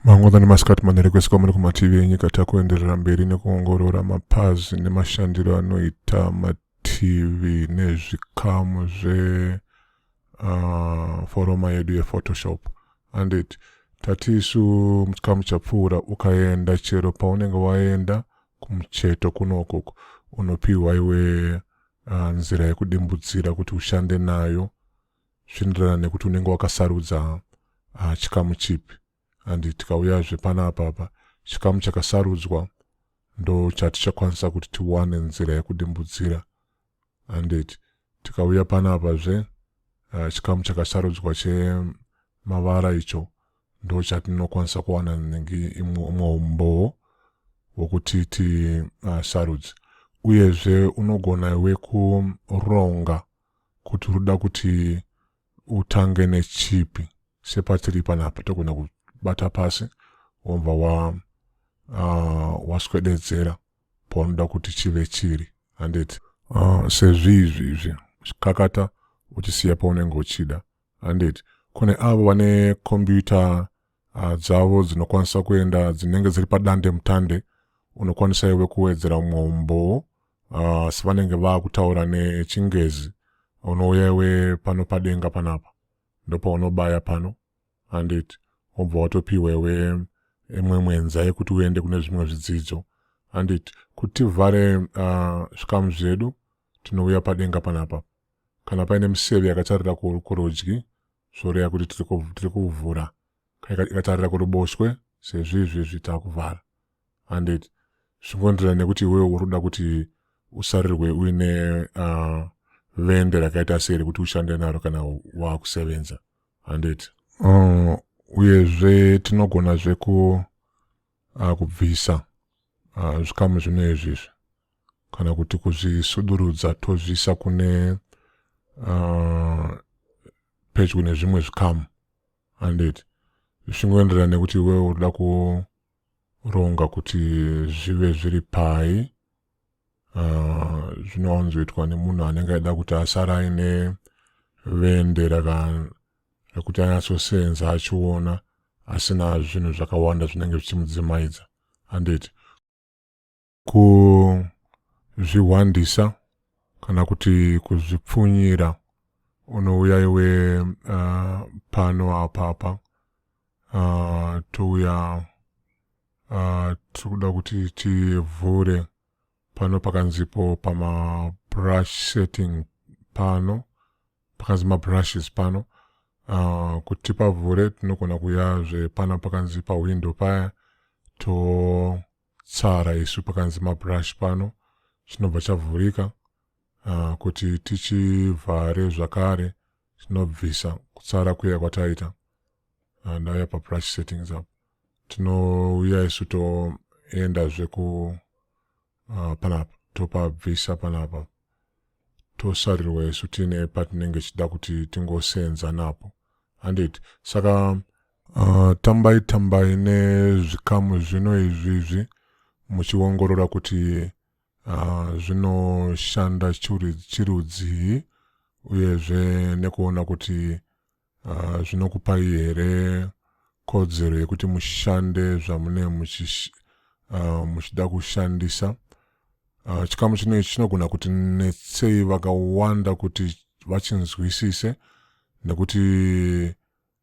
mangoda nemasikati manere kwese kwamuri kumativi enyika takuenderera mberi nekuongorora mapazi nemashandiro anoita mativi nezvikamu zve uh, foroma yedu yephotoshop handit tati isu muchikamu chapfuura ukaenda chero paunenge waenda kumucheto kuno ukoko unopiwa iwe uh, nzira yekudimbudzira kuti ushande nayo zvinoenderana nekuti unenge wakasarudza uh, chikamu chipi and tikauyazve pana apapa chikamu chakasarudzwa ndo chatichakwanisa kuti tiwane nzira yekudimbudzira handiti tikauya panapa zve uh, chikamu chakasarudzwa chemavara icho ndo chatinokwanisa kuwana nengi imwe umbowo wokuti tisarudze ah, uh, uyezve unogona iwe kuronga kuti unoda kuti utange nechipi sepatiri panapa togona kubata pasi wobva wa uh, waswededzera paunoda kuti chive chiri handiti uh, sezviizvi izvi chikakata uchisiya paunenge uchida handiti kune avo vane kombiyuta uh, dzavo dzinokwanisa kuenda dzinenge dziri padande mutande unokwanisa iwe kuwedzera umwe umbowo uh, sevanenge vaakutaura nechingezi unouya iwe pano padenga panapa ndopaunobaya pano handiti wobva watopiwa iwe imwe mwenza yekuti uende kune zvimwe zvidzidzo handiti kuti tivhare uh, zvikamu zvedu tinouya padenga panapa kana paine miseve yakatarira kurudyi zvoreva kuti tiri kuvhura ikatarira kuruboshwe sezvo izvezvi takuvhara handiti zvingoenderana nekuti iwewe uri kuda kuti usarirwe uine uh, vende rakaita sei rekuti ushande naro kana waakusevenza handiti uh, uyezve tinogona zveku uh, kubvisa uh, zvikamu zvino izvizvi kana kuti kuzvisudurudza tozviisa kune uh, pedyo nezvimwe zvikamu handiti zvisingoenderana nekuti iwewe urikuda ronga kuti zvive zviri pai ah, zvinowanzoitwa nemunhu anenge aida kuti asara aine vende rekuti anyatsoseenza achiona asina zvinhu zvakawanda zvinenge zvichimudzimaidza handiti kuzvihwandisa kana kuti kuzvipfunyira unouya iwe uh, pano apa apa uh, touya uh, tiri kuda kuti tivhure pano pakanzipo pamabrush setting pano pakanzi mabrushes pano uh, kuti pavhure tinogona kuyazve pano pakanzi pawindow paya to tsara isu pakanzi mabrush pano chinobva chavhurika uh, kuti tichivhare zvakare tinobvisa kutsara kuya kwataita uh, ah, ndauya pabrush settings apo tinouya isu toenda zveku uh, panapa topabvisa panapa tosarirwa isu tiine patinenge tichida kuti tingosenza napo handiti saka Uh, tambai tambai nezvikamu zvino izvi izvi muchiongorora kuti uh, zvinoshanda chirudzii uyezve nekuona kuti uh, zvinokupai here kodzero yekuti mushande zvamune muchish, uh, muchida kushandisa uh, chikamu chino ichi chinogona kuti netsei vakawanda kuti vachinzwisise nekuti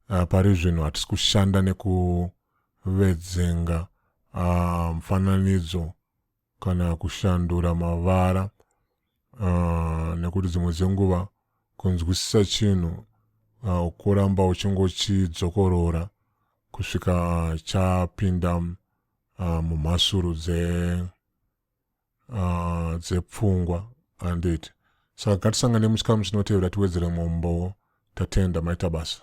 Uh, pari zvino hatisi kushanda nekuvedzenga uh, mfananidzo kana kushandura mavara uh, nekuti dzimwe dzenguva kunzwisisa chinhu uh, ukuramba uchingochidzokorora kusvika chapinda uh, mumhasuru dze uh, dzepfungwa handiti saka ngatisangane muchikamu chinotevera tiwedzere mumwe umbowo tatenda maita basa